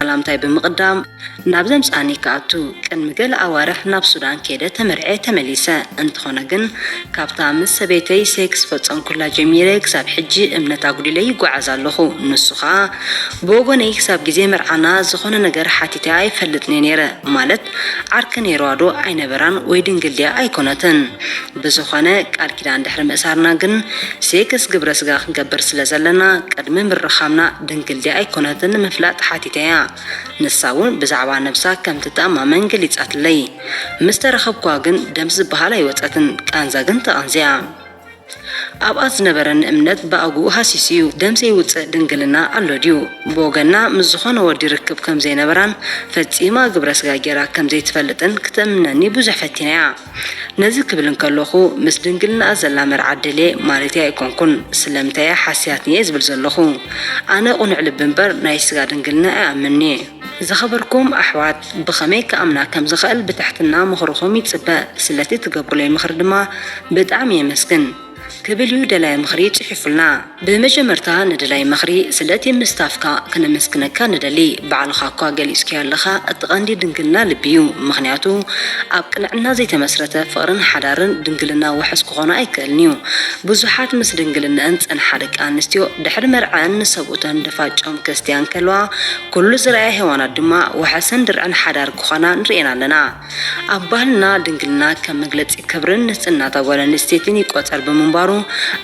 ሰላምታይ ብምቕዳም ናብ ዘምጻኒ ክኣቱ ቅድሚ ገለ ኣዋርሕ ናብ ሱዳን ከይደ ተመርዐ ተመሊሰ። እንተኾነ ግን ካብታ ምስ ሰበይተይ ሴክስ ፈጸምኩላ ጀሚረ ክሳብ ሕጂ እምነት ኣጉዲለ ይጓዓዝ ኣለኹ። ንሱ ኸኣ ብወገነይ ክሳብ ግዜ መርዓና ዝኾነ ነገር ሓቲተ ኣይፈልጥን'የ ነይረ ማለት ዓርኪ ኔርዋ ዶ ኣይነበራን ወይ ድንግል ድያ ኣይኮነትን ብዝኮነ ቃል ኪዳን ድሕሪ ምእሳርና ግን ሴክስ ግብረ ስጋ ክንገብር ስለ ዘለና ቅድሚ ምርኻብና ድንግል ድያ ኣይኮነትን ንምፍላጥ ሓቲተያ ንሳ ውን ብዛዕባ ነብሳ ከም ትተኣማመን ገሊጻትለይ ምስ ተራኸብኩዋ ግን ደም ዝበሃል ኣይወጸትን ቃንዛ ግን ተቐንዚኣ ኣብኣ ዝነበረኒ እምነት ብኣግኡ ሃሲሱ እዩ። ደም ዘይውጽእ ድንግልና ኣሎ ድዩ? ብወገና ምስ ዝኾነ ወዲ ርክብ ከም ዘይነበራን ፈጺማ ግብረ ስጋ ጌራ ከም ዘይትፈልጥን ክተእምነኒ ብዙሕ ፈቲነ እያ። ነዚ ክብል እንከለኹ ምስ ድንግልናኣ ዘላ መርዓት ደልየ ማለተይ ኣይኮንኩን። ስለምንታይ እያ ሓሲያትኒ እየ ዝብል ዘለኹ። ኣነ ቅኑዕ ልቢ እምበር ናይ ስጋ ድንግልና ኣይኣምንን እየ። ዝኸበርኩም ኣሕዋት ብኸመይ ክኣምና ከም ዝኸእል ብትሕትና ምኽርኹም ይጽበ ስለቲ ትገብሩለይ ምኽሪ ድማ ብጣዕሚ የመስግን ክብል እዩ ደላይ ምኽሪ ጽሒፉልና። ብመጀመርታ ንደላይ ምኽሪ ስለቲ ምስታፍካ ክነመስግነካ ንደሊ ባዕልኻ እኳ ገሊጽክዮ ኣለኻ እቲ ቀንዲ ድንግልና ልቢ እዩ ምኽንያቱ ኣብ ቅንዕና ዘይተመስረተ ፍቕርን ሓዳርን ድንግልና ውሕስ ክኾኖ ኣይክእልን እዩ ብዙሓት ምስ ድንግልነእን ዝጸንሓ ደቂ ኣንስትዮ ድሕሪ መርዐኣን ንሰብኡተን ድፋጨ ክርስትያን ከለዋ ኩሉ ዝረኣያ ሄዋናት ድማ ዋሕስን ድርዕን ሓዳር ክኾና ንርእየን ኣለና። ኣብ ባህልና ድንግልና ከም መግለጺ ክብርን ንጽህናታ ጓል ኣንስተይትን ይቆጸር ብምንባሩ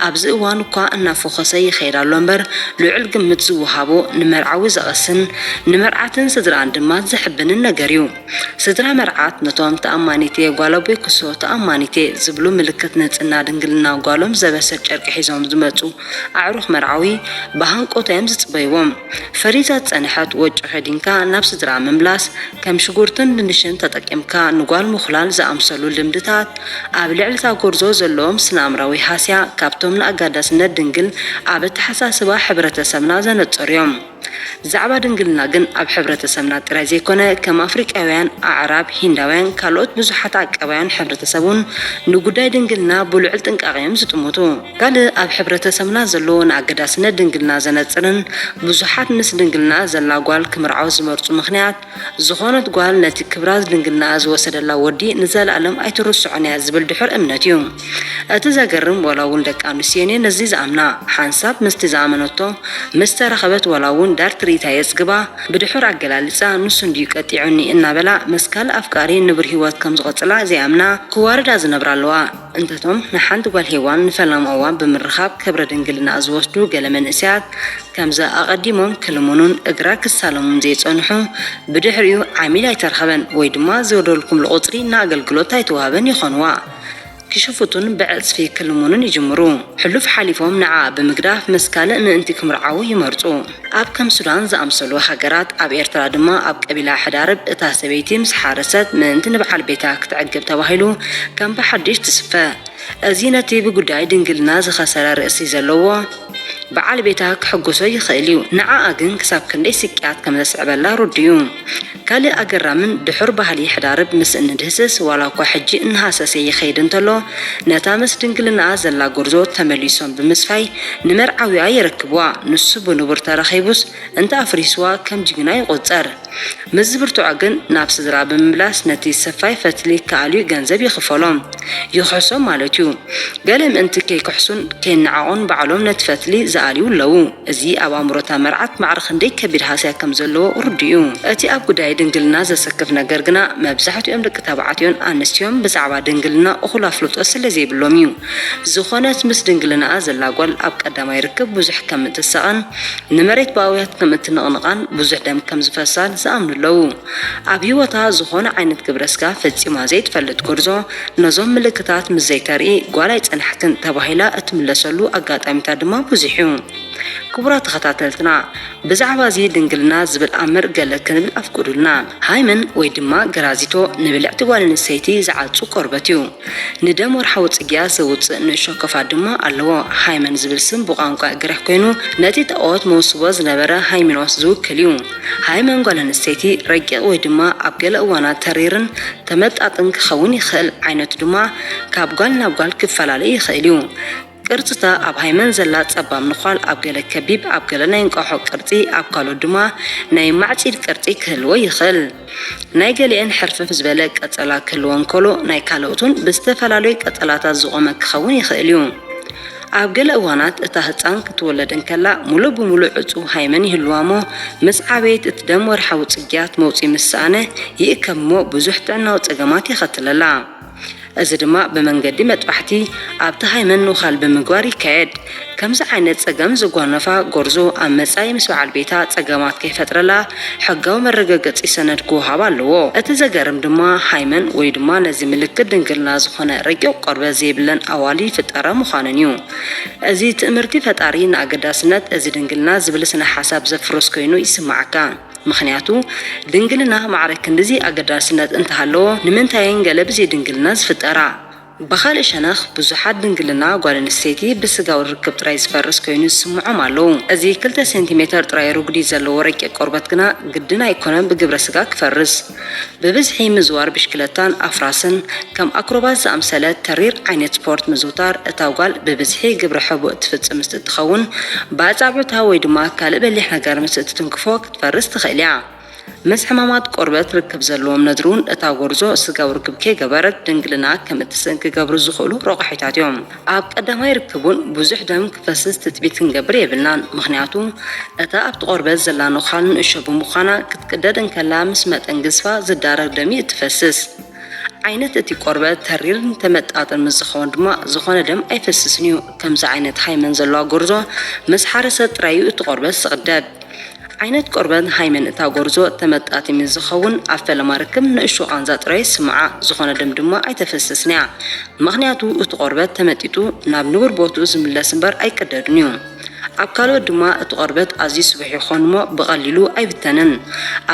ኣብዚ እዋን እኳ እናፎኾሰ ይኸይድ ኣሎ እምበር ልዑል ግምት ዝወሃቦ ንመርዓዊ ዘቐስን ንመርዓትን ስድርኣን ድማ ዘሕብንን ነገር እዩ። ስድራ መርዓት ነቶም ተኣማኒት'የ ጓል ኣቦይ ኩሶ ተኣማኒት'የ ዝብሉ ምልክት ንጽህና ድንግልና ጓሎም ዘበስር ጨርቂ ሒዞም ዝመጹ ኣዕሩኽ መርዓዊ ብሃንቆታ እዮም ዝጽበይዎም። ፈሪዛ ዝጸንሐት ወጮ ከዲንካ ናብ ስድራኣ ምምላስ፣ ከም ሽጉርትን ድንሽን ተጠቂምካ ንጓል ምኹላል ዝኣምሰሉ ልምድታት፣ ኣብ ልዕሊ'ታ ጎርዞ ዘለዎም ስነኣእምራዊ ሃስያ ካብቶም ንኣጋዳስነት ድንግል ኣብ ኣተሓሳስባ ሕብረተሰብና ዘነጸሩ'ዮም። ብዛዕባ ድንግልና ግን ኣብ ሕብረተሰብና ጥራይ ዘይኮነ ከም ኣፍሪቃውያን፣ ኣዕራብ፣ ሂንዳውያን ካልኦት ብዙሓት ኣቀባውያን ሕብረተሰብ ውን ንጉዳይ ድንግልና ብልዑል ጥንቃቐ'ዮም ዝጥምቱ። ካልእ ኣብ ሕብረተሰብና ዘሎ ንኣገዳስነት ድንግልና ዘነጽርን ብዙሓት ምስ ድንግልና ዘላ ጓል ክምርዓው ዝመርጹ ምኽንያት፣ ዝኾነት ጓል ነቲ ክብራ ድንግልናኣ ዝወሰደላ ወዲ ንዘለኣለም ኣይትርስዖን እያ ዝብል ድሑር እምነት እዩ። እቲ ዘገርም ዋላ እውን ደቂ ኣንስትዮን እየን ነዚ ዝኣምና። ሓንሳብ ምስቲ ዝኣመነቶ ምስ ተራኸበት ዋላ እውን ዳር ትርኢታ የጽግባ ብድሑር ኣገላልጻ ንሱ እንድዩ ቀጢዑኒ እናበላ ምስ ካልእ ኣፍቃሪ ንቡር ህይወት ከም ዝቐጽላ ዘይኣምና ክዋርዳ ዝነብራ ኣለዋ። እንተቶም ንሓንቲ ጓል ሄዋን ንፈላማ እዋን ብምርኻብ ክብረ ድንግልናኣ ዝወስዱ ገለ መንእሰያት ከምዛ ኣቐዲሞም ክልምኑን እግራ ክሳለሙን ዘይጸንሑ ብድሕሪኡ ዓሚል ኣይተረኽበን ወይ ድማ ዝወርደልኩምሉ ቁጽሪ ንኣገልግሎት ኣይተዋህበን ይኾንዋ ክሽፍቱን ብዕጽፊ ክልምኑን ይጅምሩ ሕሉፍ ሓሊፎም ንዓኣ ብምግዳፍ ምስ ካልእ ምእንቲ ክምርዓዉ ይመርጹ። ኣብ ከም ሱዳን ዝኣምሰሉ ሃገራት፣ ኣብ ኤርትራ ድማ ኣብ ቀቢላ ሕዳርብ እታ ሰበይቲ ምስ ሓረሰት ምእንቲ ንብዓል ቤታ ክትዕግብ ተባሂሉ ከም ብሓድሽ ትስፈ። እዚ ነቲ ብጉዳይ ድንግልና ዝኸሰረ ርእሲ ዘለዎ ብዓል ቤታ ክሕጉሶ ይኽእል እዩ፣ ንዓኣ ግን ክሳብ ክንደይ ስቅያት ከም ዘስዕበላ ርዱእ'ዩ። ካልእ ኣገራምን ድሑር ባህሊ ሕዳርብ ምስ እንድህስስ ዋላኳ ሕጂ እናሃሰሰ ይኸይድ እንተሎ ነታ ምስ ድንግልናኣ ዘላ ጎርዞ ተመሊሶም ብምስፋይ ንመርዓዊኣ የረክብዋ ንሱ ብንቡር ተረኺቡስ እንተ ኣፍሪስዋ ከም ጅግና ይቁጸር ምስ ዝብርትዖ ግን ናብ ስድራ ብምምላስ ነቲ ሰፋይ ፈትሊ ክኣልዩ ገንዘብ ይኽፈሎም ይኽሕሶም ማለትዩ ገለ ምእንቲ ከይክሕሱን ከይናዓቁን ባዕሎም ነቲ ፈትሊ ዝኣልዩ ኣለዉ። እዚ ኣብ ኣእምሮ እታ መርዓት ማዕረ ክንደይ ከቢድ ሃስያ ከም ዘለዎ ርዱእ እዩ። እቲ ኣብ ጉዳይ ድንግልና ዘሰክፍ ነገር ግና፣ መብዛሕትኦም ደቂ ተባዕትዮን ኣንስትዮን ብዛዕባ ድንግልና እኹል ኣፍልጦ ስለ ዘይብሎም እዩ። ዝዀነት ምስ ድንግልናኣ ዘላ ጓል ኣብ ቀዳማይ ርክብ ብዙሕ ከም እትሳቐን ንመሬት ብኣውያት ከም እትንቕንቓን ብዙሕ ደም ከም ዝፈሳን ዝኣምኑ ኣለዉ። ኣብ ህይወታ ዝኾነ ዓይነት ግብረ ስጋ ፈጺማ ዘይትፈልጥ ጎርዞ፣ ነዞም ምልክታት ምስ ዘይተርኢ ጓል ኣይጸናሕክን ተባሂላ እትምለሰሉ ኣጋጣሚታት ድማ ብዙሕ እዩ። ክቡራት ተኸታተልትና፣ ብዛዕባ እዚ ድንግልና ዝብል ኣምር ገለ ክንብል ኣፍቅዱልና። ሃይመን ወይ ድማ ገራዚቶ ንብልዕቲ ጓል ኣንስተይቲ ዝዓጹ ቆርበት እዩ። ንደም ወርሓዊ ጽግያት ዘውጽእ ንእሾ ክፋት ድማ ኣለዎ። ሃይመን ዝብል ስም ብቋንቋ ግሪኽ ኮይኑ ነቲ ጣኦት መውስቦ ዝነበረ ሃይሚኖስ ዝውክል እዩ። ሃይመን ጓል ኣንስተይቲ ረቂቕ ወይ ድማ ኣብ ገለ እዋናት ተሪርን ተመጣጥን ክኸውን ይኽእል፣ ዓይነቱ ድማ ካብ ጓል ናብ ጓል ክፈላለ ይኽእል እዩ። ቅርጺ'ታ ኣብ ሃይመን ዘላ ጸባብ ንዃል ኣብ ገለ ከቢብ፣ ኣብ ገለ ናይ እንቋሖ ቅርጺ፣ ኣብ ካልኦት ድማ ናይ ማዕጺድ ቅርጺ ክህልዎ ይኽእል። ናይ ገሊኤን ሕርፍፍ ዝበለ ቀጸላ ክህልወን ከሎ ናይ ካልኦት ውን ብዝተፈላለዩ ቀጸላታት ዝቖመ ክኸውን ይኽእል እዩ። ኣብ ገለ እዋናት እታ ህጻን ክትወለድ እንከላ ምሉእ ብምሉእ ዕጹው ሃይመን ይህልዋ'ሞ፣ ምስ ዓበየት እቲ ደም ወርሓዊ ጽግያት መውጽኢ ምስ ሰኣነ ይእከብ'ሞ ብዙሕ ጥዕናዊ ጸገማት የኸትለላ። እዚ ድማ ብመንገዲ መጥባሕቲ ኣብቲ ሃይመን ንውካል ብምግባር ይካየድ። ከምዚ ዓይነት ጸገም ዘጓነፋ ጎርዞ ኣብ መጻኢ ምስ በዓል ቤታ ጸገማት ከይፈጥረላ ሕጋዊ መረገገጺ ሰነድ ክወሃባ ኣለዎ። እቲ ዘገርም ድማ ሃይመን ወይ ድማ ነዚ ምልክት ድንግልና ዝኾነ ረቂቕ ቆርበት ዘይብለን ኣዋልድ ይፍጠራ ምዃነን እዩ። እዚ ትእምርቲ ፈጣሪ ንኣገዳስነት እዚ ድንግልና ዝብል ስነ ሓሳብ ዘፍርስ ኮይኑ ይስመዓካ። ምኽንያቱ ድንግልና ማዕረ ክንድዚ ኣገዳስነት እንተሃለዎ ንምንታየን ገለ ብዘይድንግልና ዝፍጠራ? ብኻልእ ሸነኽ፣ ብዙሓት ድንግልና ጓል ኣንስተይቲ ብስጋዊ ርክብ ጥራይ ዝፈርስ ኰይኑ ዝስምዖም ኣለዉ። እዚ ክልተ ሴንቲሜተር ጥራይ ርጕዲ ዘለዎ ረቂቕ ቆርበት ግና ግድን ኣይኰነን ብግብረ ስጋ ክፈርስ። ብብዝሒ ምዝዋር ብሽክለታን ኣፍራስን፣ ከም ኣክሮባት ዝኣምሰለ ተሪር ዓይነት ስፖርት ምዝውታር፣ እታ ጓል ብብዝሒ ግብረ ሕቡእ እትፍጽም ምስ እትኸውን፣ ብኣጻብዕታ ወይ ድማ ካልእ በሊሕ ነገር ምስ እትትንክፎ ክትፈርስ ትኽእል እያ። ምስ ሕማማት ቆርበት ርክብ ዘለዎም ነድሩን እታ ጎርዞ ስጋዊ ርክብ ከይገበረት ድንግልና ከም እትስእን ክገብሩ ዝኽእሉ ረቋሒታት እዮም። ኣብ ቀዳማይ ርክቡን ብዙሕ ደም ክፈስስ ትጽቢት ክንገብር የብልናን፣ ምኽንያቱ እታ ኣብቲ ቆርበት ዘላ ነዃል ንእሾ ብምዃና ክትቅደድ እንከላ ምስ መጠን ግዝፋ ዝዳረግ ደም እዩ እትፈስስ። ዓይነት እቲ ቆርበት ተሪርን ተመጣጥን ምስ ዝኸውን ድማ ዝኾነ ደም ኣይፈስስን እዩ። ከምዚ ዓይነት ሃይመን ዘለዋ ጎርዞ ምስ ሓረሰት ጥራይ እዩ እቲ ቆርበት ዝቕደድ። ዓይነት ቆርበት ሃይመን እታ ጎርዞ ተመጣጢ ምስ ዝኸውን ኣብ ፈለማ ርክብ ንእሽቶ ቃንዛ ጥራይ ይስምዓ፣ ዝኾነ ደም ድማ ኣይተፈስስን'ያ። ምኽንያቱ እቲ ቆርበት ተመጢጡ ናብ ንቡር ቦትኡ ዝምለስ እምበር ኣይቅደድን'ዩ። ኣብ ካልኦት ድማ እቲ ቆርበት ኣዝዩ ስቡሕ ይኾን'ሞ ብቐሊሉ ኣይብተንን።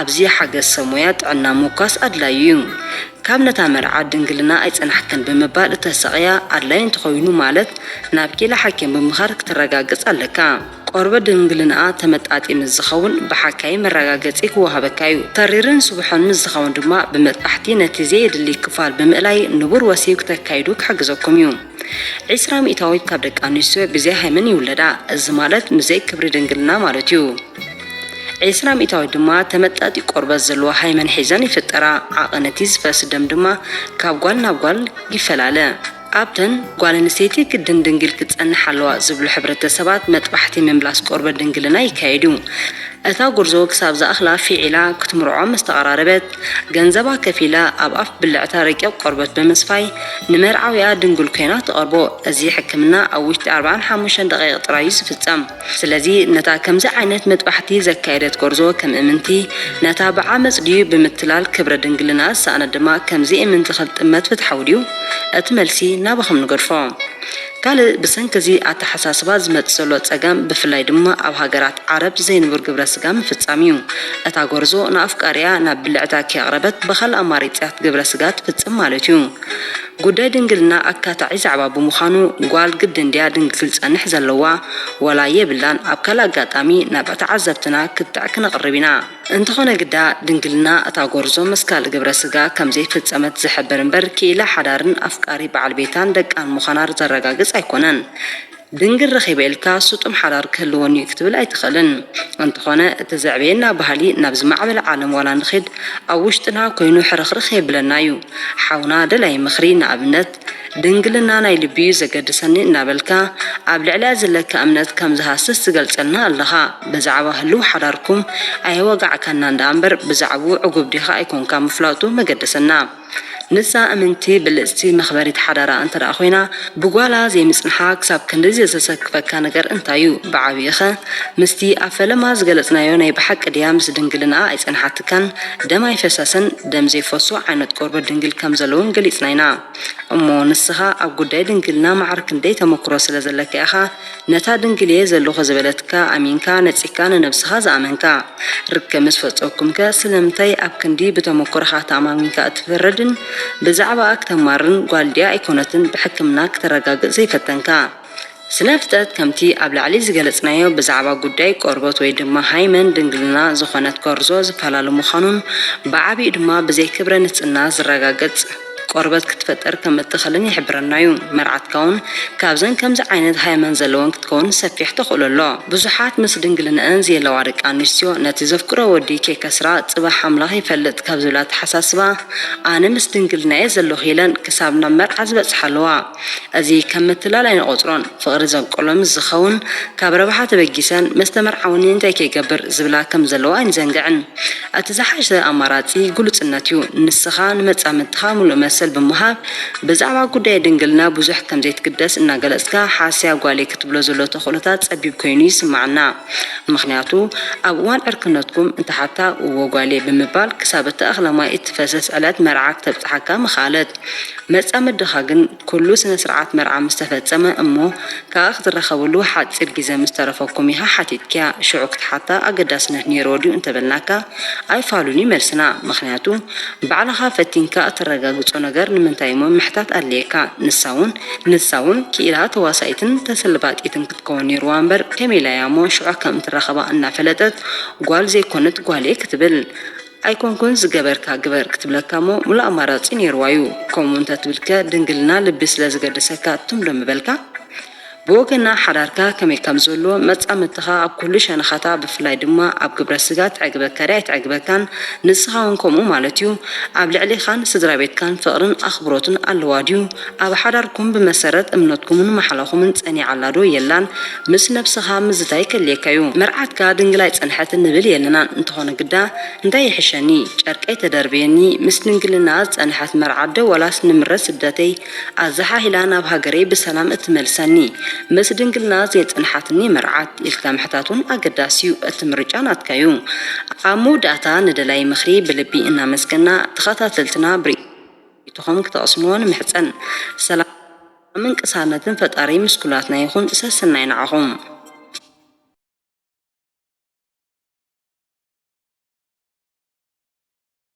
ኣብዚ ሓገዝ ሰብ ሞያ ጥዕና ምውካስ ኣድላዪ'ዩ። ካብ ነታ መርዓ ድንግልና ኣይጸናሕክን ብምባል እተሳቕያ ኣድላዪ እንተኾይኑ ማለት ናብ ኪኢላ ሓኪም ብምኻድ ክትረጋግጽ ኣለካ። ቆርበት ድንግልንኣ ተመጣጢ ምስ ዝኸውን ብሓካይም መረጋገጺ ክወሃበካ እዩ። ተሪርን ስቡሕን ምስ ዝኸውን ድማ ብመጥባሕቲ ነቲ ዘየድሊ ክፋል ብምእላይ ንቡር ወሲብ ክተካይዱ ክሕግዘኩም እዩ። ዕስራ ሚእታዊት ካብ ደቂ ኣንስትዮ ብዘይ ሃይመን ይውለዳ፣ እዚ ማለት ምዘይ ክብሪ ድንግልና ማለት እዩ። ዕስራ ሚእታዊት ድማ ተመጣጢ ቆርበት ዘለዎ ሃይመን ሒዘን ይፍጠራ፣ ዓቐን እቲ ዝፈስ ደም ድማ ካብ ጓል ናብ ጓል ይፈላለ። ኣብተን ጓል ኣንስተይቲ ግድን ድንግል ክትጸንሕ ኣለዋ ዝብሉ ሕብረተሰባት መጥባሕቲ ምምላስ ቆርበት ድንግልና ይካየድ እዩ። እታ ጉርዞ ክሳብ ዝኣኽላ ፊዒላ ክትምርዖ ምስ ተቐራረበት፣ ገንዘባ ከፊላ ኣብ ኣፍ ብልዕታ ረቂቕ ቆርበት ብምስፋይ ንመርዓዊኣ ድንግል ኮይና ትቐርቦ። እዚ ሕክምና ኣብ ውሽጢ ኣርባዓን ሓሙሽተን ደቒቕ ጥራይ እዩ ዝፍጸም። ስለዚ ነታ ከምዚ ዓይነት መጥባሕቲ ዘካየደት ጎርዞ ከም እምንቲ ነታ ብዓመጽ ድዩ ብምትላል ክብረ ድንግልና ዝሰኣነት ድማ ከም ዘይእምንቲ ክትጥመት ፍትሓዊ ድዩ? እቲ መልሲ ናባኹም ንገድፎ። ካልእ ብሰንኪ እዚ ኣተሓሳስባ ዝመጽእ ዘሎ ጸገም ብፍላይ ድማ ኣብ ሃገራት ዓረብ ዘይንቡር ግብረ ስጋ ምፍጻም እዩ። እታ ጎርዞ ንኣፍቃሪኣ ናብ ብልዕታ ከየቕረበት ብካልእ ኣማሪጺያት ግብረ ስጋ ትፍጽም ማለት እዩ። ጉዳይ ድንግልና ኣካታዒ ዛዕባ ብምዃኑ ጓል ግድን ድያ ድንግል ክትጸንሕ ዘለዋ ዋላ የብላን ኣብ ካልእ ኣጋጣሚ ናብ ተዓዘብትና ክትዕ ክነቕርብ ኢና። እንተኾነ ግዳ ድንግልና እታ ጎርዞ ምስ ካልእ ግብረ ስጋ ከም ዘይፈጸመት ዝሕብር እምበር ክኢላ ሓዳርን ኣፍቃሪ በዓል ቤታን ደቃን ምዃና ዘረጋግጽ ኣይኮነን። ድንግል ረኺበ ኢልካ ስጡም ሓዳር ክህልወኒ'ዩ ክትብል ኣይትኽእልን። እንተኾነ እቲ ዘዕበየና ባህሊ ናብ ዝማዕበለ ዓለም ዋላ ንኺድ ኣብ ውሽጥና ኮይኑ ሕርኽርኽ የብለና'ዩ። ሓውና ደላይ ምኽሪ ንኣብነት ድንግልና ናይ ልቢ'ዩ ዘገድሰኒ እናበልካ ኣብ ልዕሊኣ ዝለካ እምነት ከም ዝሃስስ ትገልጸልና ኣለኻ። ብዛዕባ ህሉው ሓዳርኩም ኣየዋጋዕካናን ደኣምበር ብዛዕብኡ ዕጉብ ዲኻ ኣይኮንካ ምፍላጡ መገደሰና። ንሳ እምንቲ ብልጽቲ መኽበሪት ሓዳራ እንተደኣ ኮይና ብጓላ ዘይምጽንሓ ክሳብ ክንድዚ ዘሰክፈካ ነገር እንታይ እዩ ብዓቢኡኸ ምስቲ ኣብ ፈለማ ዝገለጽናዮ ናይ ብሓቂ ድያ ምስ ድንግልንኣ ኣይጸንሓትካን ደም ኣይፈሰሰን ደም ዘይፈሶ ዓይነት ቆርበት ድንግል ከምዘለውን ገሊጽና ኢና እሞ ንስኻ ኣብ ጉዳይ ድንግልና ማዕረ ክንደይ ተመክሮ ስለዘለካ ኢኻ ነታ ድንግል'የ ዘሎኹ ዝበለትካ ኣሚንካ ነጺግካ ንነብስኻ ዝኣመንካ፣ ርክብ ምስ ፈጸኩምከ ስለምንታይ ኣብ ክንዲ ብተመኩሮኻ ተኣማሚንካ እትፈርድን ብዛዕባኣ ክተማርን ጓል ድያ ኣይኮነትን ብሕክምና ክተረጋግጽ ዘይፈተንካ? ስነፍጠት ከምቲ ኣብ ላዕሊ ዝገለጽናዮ ብዛዕባ ጉዳይ ቆርበት ወይ ድማ ሃይመን ድንግልና ዝኾነት ጎርዞ ዝፈላለ ምዃኑን ብዓቢኡ ድማ ብዘይ ክብረ ንጽና ዝረጋገጽ ቆርበት ክትፈጥር ከም እትኽልን ይሕብረና እዩ። መርዓትካ እውን ካብዘን ከምዚ ዓይነት ሃይመን ዘለወን ክትከውን ሰፊሕ ተኽእሎ ኣሎ። ብዙሓት ምስ ድንግልንኣን ዝየለዋ ደቂ ኣንስትዮ ነቲ ዘፍቅሮ ወዲ ከይከስራ ጽባሕ ኣምላኽ ይፈልጥ ካብ ዝብል ኣተሓሳስባ ኣነ ምስ ድንግልናየ ዘለኹ ኢለን ክሳብ ናብ መርዓ ዝበጽሓ ኣለዋ። እዚ ከም ምትላል ኣይንቖጽሮን። ፍቕሪ ዘንቅሎ ምስ ዝኸውን ካብ ረብሓ ተበጊሰን ምስ ተመርዓውኒ እንታይ ከይገብር ዝብላ ከም ዘለዋ ኣይንዘንግዕን። እቲ ዝሓሸ ኣማራጺ ግሉጽነት'ዩ። ንስኻ ንመጻምድትኻ ምሉእ መሰል ብምሃብ ብዛዕባ ጉዳይ ድንግልና ብዙሕ ከም ዘይትግደስ እናገለጽካ ሓስያ ጓለይ ክትብሎ ዘሎ ተኽእሎታት ጸቢብ ኮይኑ ይስምዓና። ምኽንያቱ ኣብ እዋን ዕርክነትኩም እንተሓታ እዎ ጓልየ ብምባል ክሳብ እታ እኽለ ማይ እትፈሰስ ዕለት መርዓ ክተብጽሓካ ምኽኣለት። መጻምድኻ ግን ኩሉ ስነስርዓት መርዓ ምስ ተፈጸመ እሞ ክኣ ክትራኸብሉ ሓጺር ግዜ ምስ ተረፈኩም ኢኻ ሓቲትኪያ ሽዑ ክትሓታ ኣገዳስነት ኔርዎ ድዩ እንተበልናካ ኣይፋሉን እዩ መልስና ምኽንያቱ ባዕልኻ ፈቲንካ እተረጋግጾ ነገር ንምንታይ እሞ ምሕታት ኣድለየካ ንሳ ውን ንሳ ውን ኪኢላ ተዋሳኢትን ተሰልባጢትን ክትከውን ኔርዋ እምበር ከመይ ኢላ እያ እሞ ሽዑ ከም እትራኸባ እናፈለጠት ጓል ዘይኮነት ጓልየ ክትብል ኣይኮንኩን ዝገበርካ ግበር ክትብለካ እሞ ምሉእ ኣማራጺ ኔርዋ እዩ ከምኡ እንተ ትብልከ ድንግልና ልቢ ስለ ዝገደሰካ ትም ዶ ምበልካ ብወገና ሓዳርካ ከመይ ከም ዘሎ መጻምድትኻ ኣብ ኩሉ ሸነኻታ ብፍላይ ድማ ኣብ ግብረ ስጋ ትዕግበካ ድያ ኣይትዕግበካን ንስኻ ውን ከምኡ ማለት እዩ ኣብ ልዕሌኻን ስድራቤትካን ፍቕርን ኣኽብሮትን ኣለዋ ድዩ ኣብ ሓዳርኩም ብመሰረት እምነትኩምን ማሕላኹምን ጸኒዓ ኣላ ዶ የላን ምስ ነብስኻ ምዝታይ ከድልየካ እዩ። መርዓትካ ድንግል ኣይጸንሐትን ንብል የለናን እንተኾነ ግዳ እንታይ ይሕሸኒ ጨርቀይ ተደርብየኒ ምስ ድንግልናኣ ዝጸንሐት መርዓት ዶ ወላስ ንምረት ስደተይ ኣዛሓሂላ ናብ ሃገረይ ብሰላም እትመልሰኒ ምስ ድንግልናኣ ዘየጸንሓትኒ መርዓት ኢልካ ምሕታት ውን ኣገዳሲ እዩ እቲ ምርጫ ናትካ እዩ። ኣብ መወዳእታ ንደላዪ ምኽሪ ብልቢ እናመስገና ተኸታተልትና ብሪ። ዩቱኹም ክተቅስምዎ ንምሕጸን ሰላምን ቅሳነትን ፈጣሪ ምስ ኩላትና ይኹን ሰስናይ ንዓኹም።